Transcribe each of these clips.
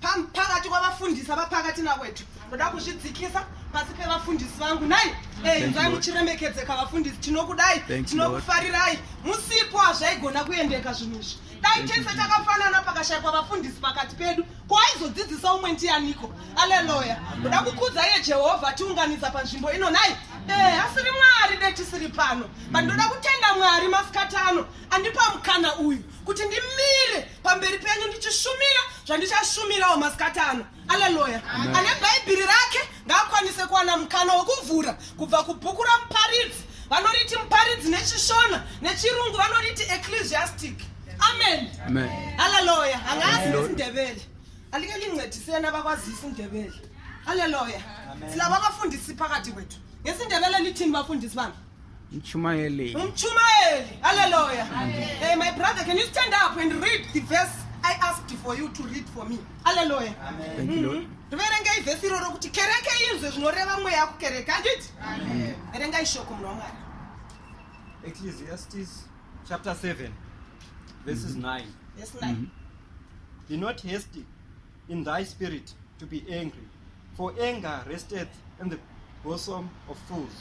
pakati kwavafundisi avapakati nakwetu ndoda kuzvidzikisa pasi pevafundisi vangu nai eh, inzwai muchiremekedzeka vafundisi tinokudai tinokufarirai musipo hazvaigona kuendeka zvinhu izvi dai tese takafanana pakashaikwa vafundisi pakati pedu ko aizodzidzisa umwe ndiyaniko aleluya ndoda kukudza iye jehovha tiunganidza panzvimbo ino nai eh, asiri mwari de tisiri pano but ndoda kutenda mwari masikati ano andipa mukana uyu kuti ndimire pamberi penyu ndichishumira zvandichashumirawo masikati ano aleluya ane bhaibheri rake ngaakwanise kuwana mukana wekuvhura kubva kubhuku ramuparidzi vanoriti muparidzi nechishona nechirungu vanoriti ecclesiastic amen aleluya hangaasi isindebele alike lincedisena bakwazi isindebele aleluya silabo abafundisi phakathi kwethu ngesindebele lithini bafundisi bami Mchumaeli. Mchumaeli. Hallelujah. Hey, my brother, can you stand up and read the verse I asked for you to read for me? Hallelujah. Amen. Thank you, Lord. Mm-hmm. Ndiverengei vhesi iroro kuti kereke inzwe zvinoreva mweya kukereke handiti? Verengai shoko munhu waMwari. Ecclesiastes chapter 7 verses mm -hmm. 9. Verse 9. Mm -hmm. Be not hasty in thy spirit to be angry, for anger resteth in the bosom of fools.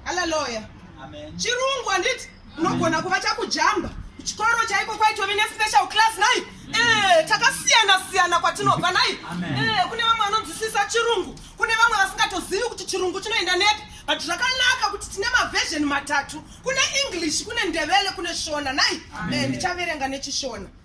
Hallelujah. Amen. Chirungu handiti unogona kuva chakujamba kuchikoro chaiko kwaitove nespecial class nai mm. eh, takasiyana siyana kwatinobva nai eh, kune vamwe vanonzwisisa chirungu kune vamwe vasingatozivi kuti chirungu chinoenda nepi but zvakanaka kuti tine maversion matatu kune english kune ndevele kune shona nai eh, ndichaverenga nechishona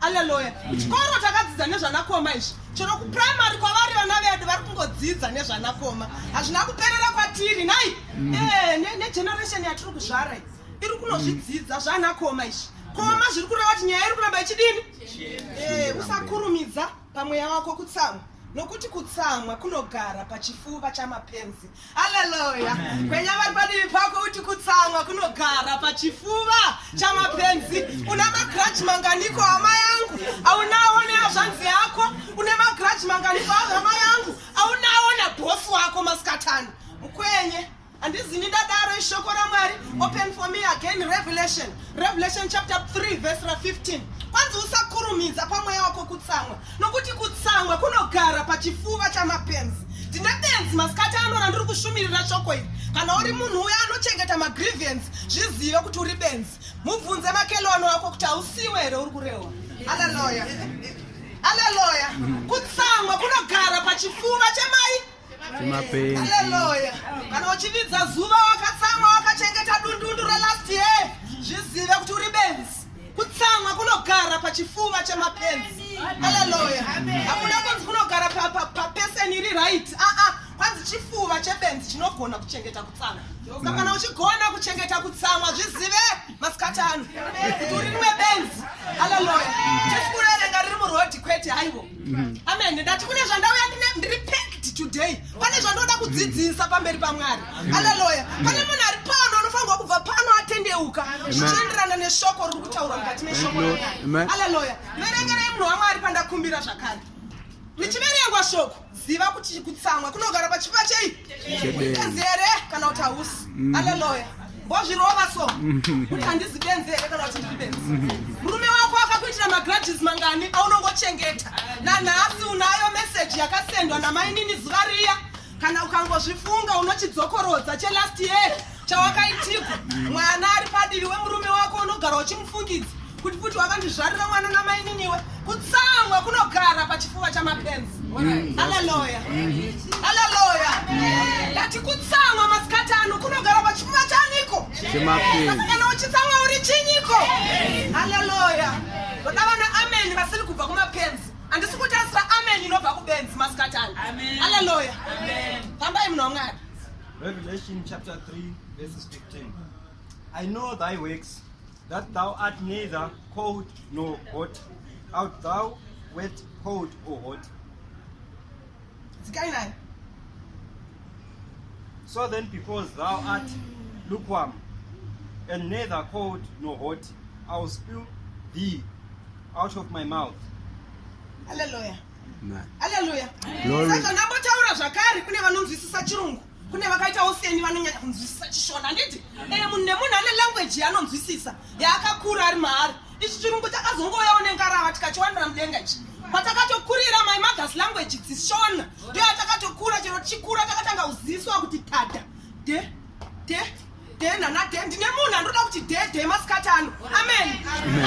Alleluia. Kuchikoro takadzidza nezvanakoma izvi. Chero kuprimary kwavari vana vedu vari kungodzidza nezvanakoma. Hazvina kuperera kwatiri nhai? Mm. Eh, ne, ne generation yatiri kuzvara iyi iri kunozvidzidza mm. zvanakoma izvi. Koma zviri kureva kuti nyaya iri kuramba ichidini? Eh, usakurumidza. pamweya wako kutsamwa nokuti kutsamwa kunogara pachifuva chamapenzi aleluya kwenya vari padivi pako uti kutsamwa kunogara pachifuva chamapenzi una magrachi manganiko hama yangu aunawo neazvanzi yako une magrachi manganiko ahama yangu aunawo nabhosi wako masikatano mukwenye handizini ndadaro ishoko ramwari open for me again revelation revelation chapter 3 verse ra 15 kwanzi usakurumidza pamweya wako kutsamwa nokuti kutsamwa kunogara pachifuva chamapenzi ndine benzi masikati ano randiri kushumirira shoko iri kana uri munhu uya anochengeta magriviance zvizive kuti uri benzi mubvunze makelwano wako kuti hausiwe here uri kurehwa aleloya aleloya kutsamwa kunogara pachifuva chemai Mapenzi. Hallelujah. Kana uchividza zuva wakatsamwa wakachengeta dundundu relast year zvizive kuti uri benzi. Kutsamwa kunogara pachifuva chemapenzi. Hallelujah. Hakuna kunzi kunogara pa pa, pa person iri right. Ah ah. Kwanzi chifuva chebenzi chinogona kuchengeta kutsamwa. Saka kana uchigona kuchengeta kutsamwa zvizive masikati ano. Kuti uri rimwe benzi. Hallelujah. Tiri kuverenga riri muroad kwete haiwo. Mm-hmm. Amen. Ndati kune zvandauya ndiri packed today. Pane zvandoda kudzidzisa pamberi paMwari. Hallelujah. Pane munhu ari pano anofanirwa kubva pano atendeuka. Zvichienderana neshoko riri kutaura mukati meshoko. Hallelujah. Verengerei munhu waMwari pandakumbira zvakare. Richiverengwa shoko ziva kuti kutsamwa kunogara pachipa chei? Chezere kana kuti hausi. Mm-hmm. Hallelujah. Mbozvirova so. Kuti handizi benzi here kana kuti ndiri benzi. Murume wako akakuitira magrudges mangani aunongochengeta. Nanhasi unayo message yakasendwa namainini zuva riya. Kana ukangozvifunga unochidzokorodza chelast year chawakaitirwa. Mwana ari padivi wemurume wako unogara uchimufungidza. Kuti kuti wakandizvarira mwana namaininiwe kutsamwa kunogara pachifuva chamapenzi. Mm. Hallelujah. Mm-hmm. Hallelujah. Ngati kutsamwa masikati ano kunogara pachifuva chaniko? Chemapenzi. Kana uchitsamwa uri chinyiko? Hallelujah. Ndoda vana amen vasiri kubva kumapenzi. Andisi kutarisira amen inobva kubenzi masikati ano. Hallelujah. Fambai munhu waMwari. Revelation chapter 3 verses 15. I know thy works That thou art neither cold nor hot, art thou wet, cold or hot. Dzikai naye. So then because thou art lukewarm and neither cold nor hot, I will spew thee out of my mouth. Hallelujah. Hallelujah. Saka ndambotaura zvakare kune vanonzwisisa chirungu. kune vakaitawo seni vanonyanya kunzwisisa chishona handiti e eh, munhu nemunhu ane language yaanonzwisisa yaakakura ari maari ichi chirungu takazongouyawo nengarava tikachiwanira mudenga ichi patakatokurira my mothers language dzishona ndoyatakatokura chero chikura takatanga kuziswa kuti tada de de day nana day ndine munhu andoda kuti day day masikati ano amen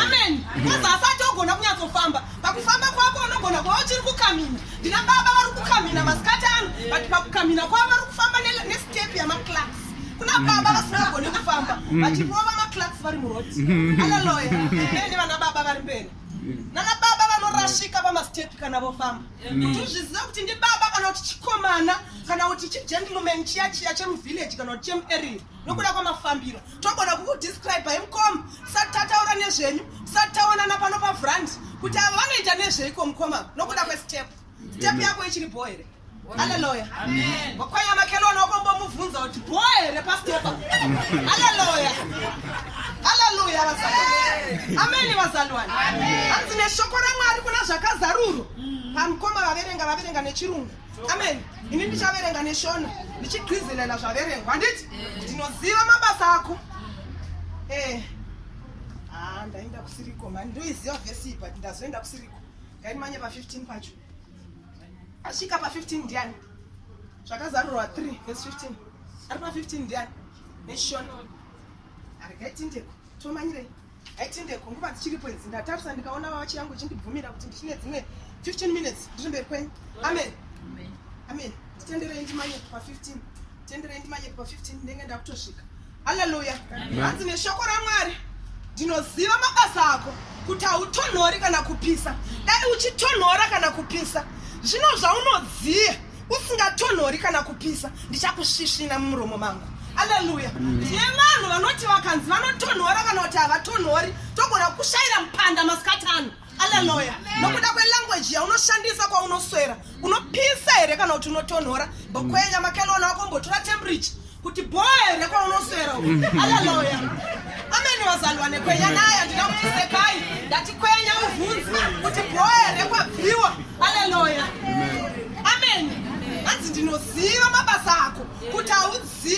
amen koza asati ogona kunyatsofamba pakufamba kwako unogona kuva uchiri kukamina ndina baba vari kukamina masikati ano but pakukamina kwavo vari kufamba nestep yamaclax kuna mm. baba vasingagoni kufamba mm. vachirova maclax vari murod mm. analoya ende vana baba vari mberi nana baba vanorashika pamastep kana vofamba kuti uzviziva kuti ndi baba kana kuti chikomana kana kuti chigentleman chiya chiya chemuvillage kana kuti chemuarea nokuda kwamafambiro togona kukudescribe hi mukoma tisati tataura nezvenyu tisati taonana pano pavrand kuti ava vanoita nezveiko mukoma nokuda kwestep step yako ichiri bho here aleluya kwakwaya makelona wakombomubvunza kuti bho here pastepa aleluya ameni vazalwani hanzi neshoko ramwari kuna zvakazarurwa pamukoma vaverenga vaverenga nechirungu ameni ini ndichaverenga neshona ndichigwizelela zvaverengwa handiti ndinoziva mabasa ako eh. ah, ndaenda kusiriko mani ndoiziva vhesi but ndazoenda kusiriko ngaimanye pa15 pacho asvika pa15 ndiani zvakazarurwa 3 vhesi 15 ari pa15 ndiani neshona Arikaitindeko, tomanyirei. Aitindeko, nguva dzichiripo idzi ndatarisa ndikaona wachi yangu ichindibvumira kuti ndichine dzimwe 15 minutes ndiri mberi kwenyu. Amen. Amen. Amen. Titenderei ndimanye pa 15. Titenderei ndimanye pa 15 ndenge ndakutosvika. Hallelujah. Hanzi neshoko raMwari ndinoziva mabasa ako kuti hautonhori kana kupisa dai uchitonhora kana kupisa zvino zvaunoziva usingatonhori kana kupisa ndichakusvisvina mumuromo mangu aleluya tine vanhu vanoti vakanzi vanotonhora kana kuti havatonhori togona kukushaira mupanda masikati ano aleluya nokuda kwelanguage yaunoshandisa kwaunoswera unopisa here kana kuti unotonhora bokwenya makelona wako mbotora temperature kuti bhoe rekwaunoswera alaloya amene wazalwa nekwenya naye andina kuti sekai ndati kwenya uvhunzi kuti bhoe rekwabviwa alaloya amene hanzi ndinoziva mabasa ako kuti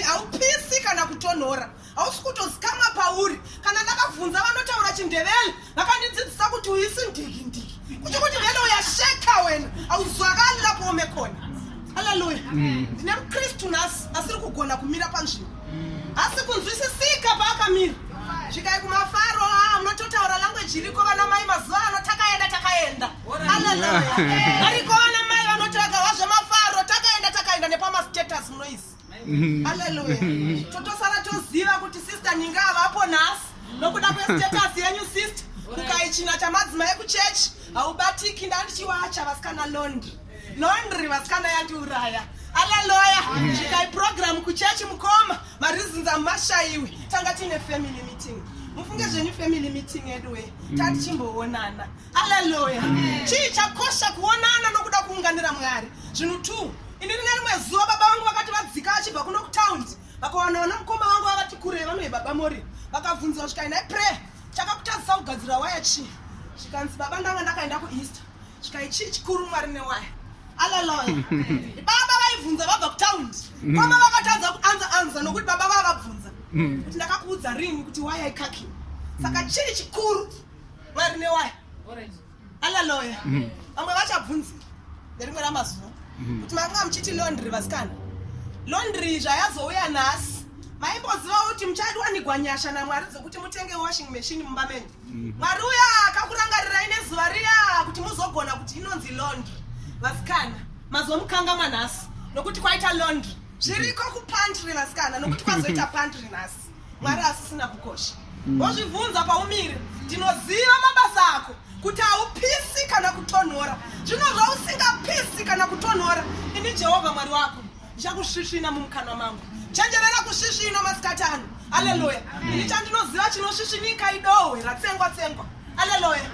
haupisi kana kutonhora hausi kutozikamwa pauri kana ndakabvunza vanotaura chindevele vakandidzidzisa kuti uyisi ndiki ndiki kuchi kuti vele uyasheka wena auzwakali lapo ume khona haleluya mm. ndine mukristu nhasi asiri kugona kumira panzvimbo asi kunzwisisika paakamira zvikai kumafaro ah, munototaura language iriko vana mai mazuva ano takaenda takaenda haleluya ariko vana mai vanotoaga wazvemafaro takaenda takaenda nepamastatus munoizi Hallelujah. Totosara toziva kuti sister Ninga avapo nhasi nokuda kwestatus yenyu sister kukaichina chamadzimai ekuchechi haubatiki ndandichiwacha vasikana londri londri vasikana yandiuraya alaloya chikai program kuchechi mukoma varizinza mashaiwe tanga tiine family meeting mufunge zvenyu family meeting edu we tatichimboonana mm. Haleluya. Chii chakosha kuonana nokuda kuunganira Mwari? Zvinhu two. Ini rine rimwe zuva baba vangu vakati vadzika vachibva kuno kutaundi vakawana vana mukoma vangu vakati kure vanoye baba mori vakabvunzira zvikai nhai pray chakakutadzisa kugadzira waya chii zvikanzi baba ndanga ndakaenda kueaster zvikai chii chikuru mwari newaya alaloya baba vaibvunza vabva kutaundi mm. koma vakatadza kuanza anza nokuti baba vavabvunza mm. kuti ndakakuudza rini kuti waya ikaki saka mm. chii chikuru vari newaya alaloya mm. vamwe vachabvunzi nerimwe ramazuva mm. kuti makanga muchiti londry vasikana londry zvayazouya nhasi maimboziva kuti muchadiwanigwa nyasha namwari dzokuti mutenge washing machine mumba menyu mm. mwari uya akakurangarirai nezuva riya kuti muzogona kuti inonzi londry vasikana mazomukanga manhasi nokuti kwaita londry zviriko kupantry vasikana nokuti kwazoita pantry nhasi mwari asisina kukosha mm. wozvibvunza paumiri ndinoziva mabasa ako kuti haupisi kana kutonhora zvino zvausingapisi kana kutonhora ini jehovha mwari wako ndichakusvisvina mumukanwa mangu chenjerera kusvisvino masikati ano aleluya ini chandinoziva chinosvisvinika idohwe ratsengwa tsengwa aleluya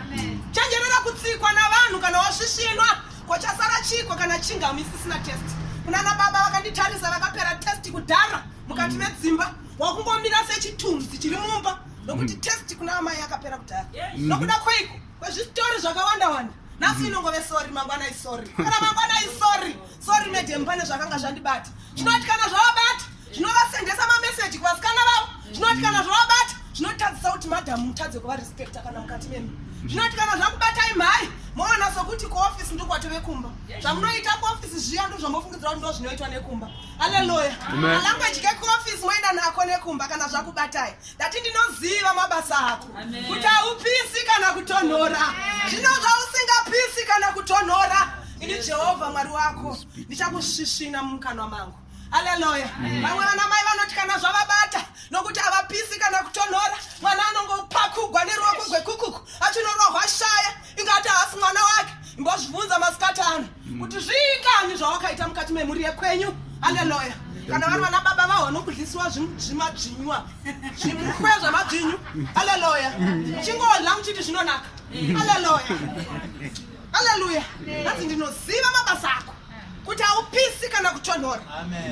chenjerera kutsikwa navanhu kana wasvisvinwa kochasara chiko kana chingami isisina test kunana baba vakanditarisa vakapera test kudhara mukati medzimba wakungomira sechitunzi chiri mumba nokuti mm. test kuna amai akapera kudhara mm-hmm. nokuda kweiko kwezvitori zvakawanda wanda nhasi mm-hmm. inongove sori mangwana isori kana mangwana isori sori medem pane zvakanga zvandibata zvinoti kana zvavabata zvinovasendesa mameseji kuvasikana vavo zvinoti kana zvavabata zvinotadzisa kuti madhamu mutadze kuva respecta kana mukati memi zvinoti kana zvakubatai mhai moona sokuti kuofisi ndokwato vekumba zvamunoita kuofisi zviya ndozvamofungidzira kuti ndozvinoitwa nekumba Hallelujah. Amen. Language ke office moenda nako nekumba kana zvakubatai. Ndati ndinoziva mabasa ako. Kuti haupisi kana kutonhora. Zvino zvausingapisi kana kutonhora. Ini Jehovha Mwari wako ndichakusvisvina mumukanwa mangu. Hallelujah. Vamwe vana mai vanoti kana zvavabata nokuti havapisi kana kutonhora mwana anongopakugwa neruoko gwekukuku achinonohwa shaya ingati haasi mwana wake imbozvibvunza masikatana mm. kuti zviingani zvawakaita mukati memhuri yekwenyu haleloya kana vari vana baba vaho vanokudlisiwa zvimadzvinywa zvimukwe zvamadzvinyu haleloya chingodla muchiti zvinonaka haleloya haleluya hanzi ndinoziva mabasa ako kuti haupisi kana kutonhora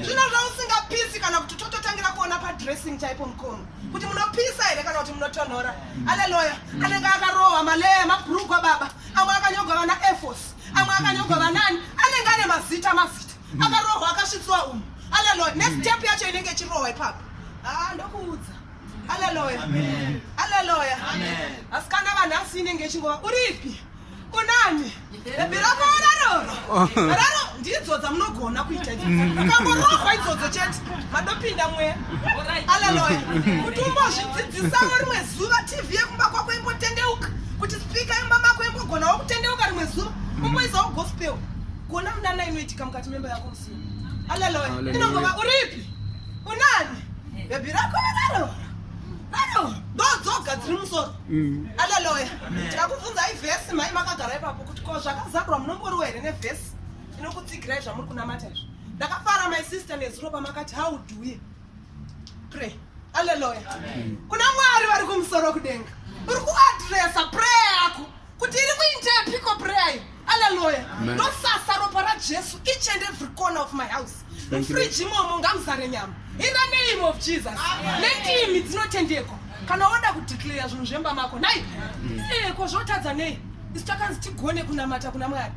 zvino zvausingapisi kana kuti tototangira kuona padressing chaipo mukono kuti munopisa here kana kuti munotonhora aleluya anenge akarohwa maleya mabrugwa baba amwe akanyogwa vana airfos amwe akanyogwa vanani anenge ane mazita mazita akarohwa akasvitsiwa umu aleluya nestep yacho inenge ichirohwa ipapo haa ah, ndokuudza aleluya aleluya asikana vanhu asi inenge ichingova uripi kunani birakoona roro raro ndidzo dzamunogona kuita ukangorohwa idzodzo chete madopinda mwe aleloya kuti umbozvidzidzisawo rimwe zuva tv yekumba kwako imbotendeuka kuti spika yemba mako imbogonawo kutendeuka rimwe zuva umboizawo gospel kuona munana inoitika mukati memba yako musina aleloya inongova uripi unani bhebhi rako raro raro ndodzoga dziri musoro Mm. Hallelujah. Ndakubvunzai verse mai makagara ipapo kuti ko zvakazarwa munomboriwa here neverse inokutsigirai zvamuri kunamata izvo. Ndakafara my sister nezuro pamakati how do we pray. Hallelujah. Kuna Mwari vari kumusoro kudenga. Uri kuadressa prayer yako kuti iri kuindeya piko prayer iyi aleluya ndosasa ropa rajesu each and every corner of my house mufriji imomo ngamuzare nyama in the name of jesus nendimi dzinotendekwa kana woda kudeclare zvinhu zvemba mako nai mm. eh, ko zvotadza nei isu takanzi tigone kunamata kuna mwari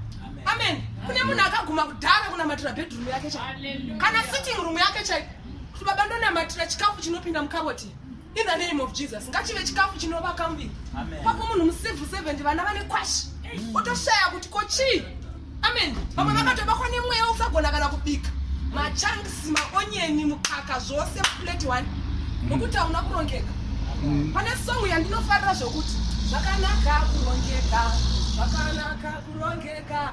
amen kune munhu akaguma kudhara kunamatira bedroom yake chai kana sitting room yake chai kuti baba ndonamatira chikafu chinopinda mukaboti In the name of Jesus, ngachive chikafu chinovaka muviri. Pako munhu mucivil servant vana vane kwashi. Otoshaya kuti ko chii? Amen. Vamwe mm. vakatobakwa nemweya usagona kana kubika. Machunks, maonyeni, mukaka zvose plate one. Mm. Nokuti hauna kurongeka. Mm. Pane song yandinofarira zvokuti zvakanaka kurongeka. Zvakanaka kurongeka.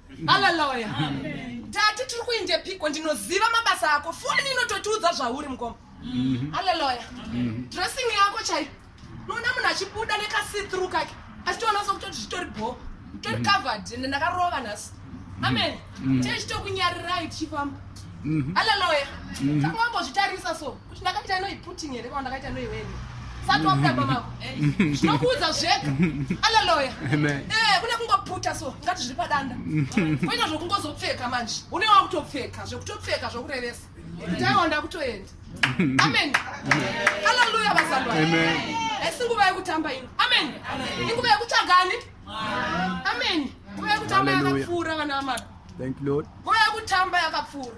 haleluya tati tiri kuinde piko ndinoziva mabasa ako foni inototiudza zvauri mukoma mhm. haleluya mhm. dressing yako chai noona munhu achibuda nekasithru kake achitoona sokutoti zvitori bho tori mhm. covered ende ndakarova nhasi amen tee chitokunyarirai tichifamba haleluya takungambozvitarisa so Ndakaita ino iputing here kana ndakaita ino iweni. Sati wabuda pamako. Zvinokuudza zvega. Hallelujah. Amen. Eh, kune kungoputa so ngati zviri padanda. Kuita zvokungozopfeka manje. Une wakutopfeka zvokutopfeka zvokurevesa. Ndaiwa ndakutoenda. Amen. Hallelujah bazalwa. Amen. Esi nguva yekutamba ino. Amen. Inguva yekutsvaga ani? Amen. Nguva yekutamba yakapfuura vana vamaka. Thank you Lord. Nguva yekutamba yakapfuura.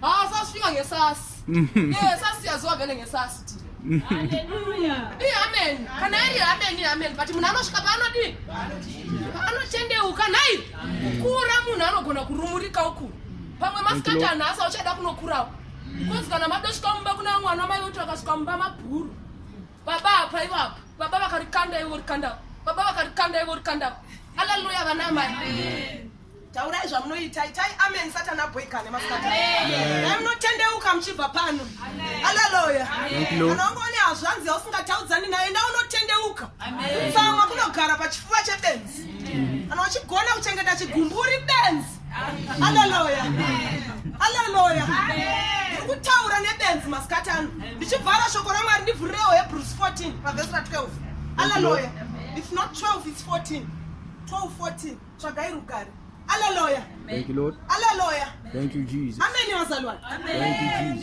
haasasvika ngesasi mhm. sasi yazowa vele ngesasi ti amen kana iri amen amen but munhu anosvika paanodii anotendeuka nhai kukura munhu anogona kurumurika uku pamwe masikati anhasa uchada kunokurawo because kana madosvika mumba kuna mwana mai voti vakasvika mumba mabhuru baba apa ivapa baba vakarikanda ivo rikandavo baba vakarikanda ivo rikandavo aleluya vana mai taurai zvamunoita itai amen satani aboikane masikati dai munotendeuka muchibva pano aleluya kana ungoone hazvanzi yausingataudzani naye nda unotendeuka tsamwa kunogara pachifuva chebenzi mm. kana uchigona kuchengeta chigumbu uri benzi aleluya aleluya kutaura nebenzi masikati ano ndichivhara shoko ramwari ndivhurirewo hebrews 14 pavhesi ra 12 aleluya if not 12 its 14 12 14 tsvagai rugare aleluya aleluya ameni vazalwani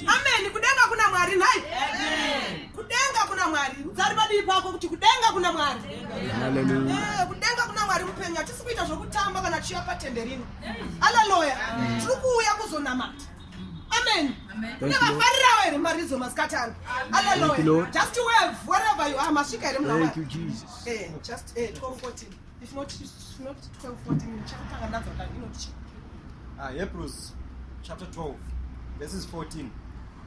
ameni kudenga kuna mwari nhai kudenga kuna mwari muzari padii pako kuti kudenga kuna mwari eh, kudenga kuna mwari mupenyu hatisi kuita zvokutamba kana tichiva patende rino aleluya tiri kuuya kuzonamata amen ndavafarirawo here maridzo masikati ano aleluya just wave wherever you are masvika here muna mwari eh, just 1214 eh, If not, if not 12, 14, chakutanga ndadzo kutanga inoti Ah, Hebrews chapter 12, verses 14.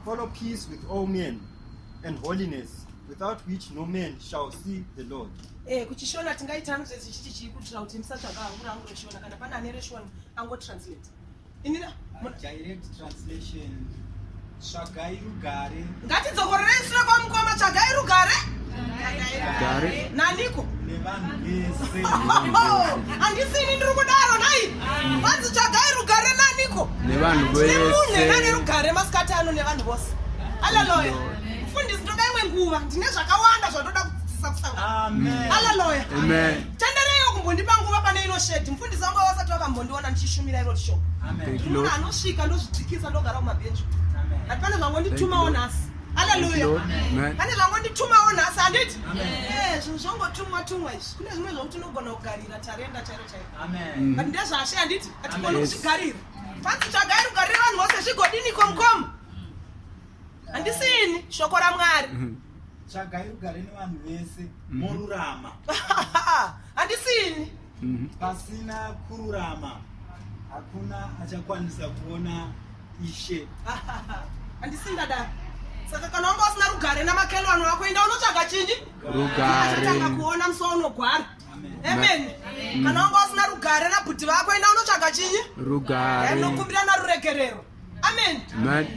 Follow peace with all men and holiness, without which no man shall see the Lord. Eh, kuchishona tingaita hangu zvese chiti chiri kutira kuti musatsvaga hangu rangu reshona kana pana ane reshona angotranslate. inina direct translation tsvagai rugare ngatidzokorere sure kwamukoma tsvagai rugare gare naniko nevanhu vese handisini ndiri kudaro nai vanzi tsvagai rugare naniko nevanhu vese nane rugare masikati ano nevanhu vose aleloya mfundisi ndoda imwe nguva ndine zvakawanda zvandoda kudzidzisa kusangana aleloya amen Tendereiwo kumbondipa nguva pane ino shedi. Mfundisi wangu wasati wakambondiona ndichishumira iro shop. Ndinoona anosvika ndozvidzikisa ndogara kumabhenji. But pane zvangonditumawo nhasi. Hallelujah. Pane zvangonditumawo nhasi handiti? Eh, zvinhu zvongotumwa tumwa izvi. Kune zvimwe zvokuti unogona kugarira tarenda chairo chairo. Amen. But ndezvashe handiti? Atigoni kuzvigarira. Fansi tsvagai rugariro vanhu vose zvigodini komkom. Handisini shoko raMwari. tsvagai rugare nevanhu vese mhm. morurama handisini mhm. pasina kururama hakuna achakwanisa kuona ishe handisindadaro saka kana wanga usina rugare namakelwano wako enda unotsvaga chinyi rugareatanga kuona musi waunogwara amen kana wanga usina rugare nabhuti vako enda unotsvaga chinyi rugare nokumbira naruregerero amen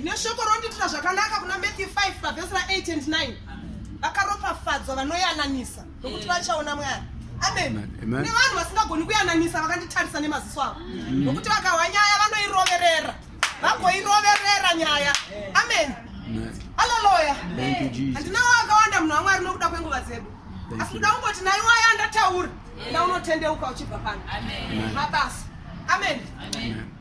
neshoko rondiitira zvakanaka kuna matthew 5 pavhesi ra8 and 9 vakaropafadzwa vanoyananisa nokuti vachaona mwari amen nevanhu vasingagoni kuyananisa vakanditarisa nemaziso avo mm. nokuti vakahwa nyaya vanoiroverera vagoiroverera nyaya amen alaloya handinawo akawanda munhu wamwari nokuda kwenguva dzedu asi kuda kungoti naiwaya ndataura ndaunotendeuka uchibva pano mabasa amen, amen. amen.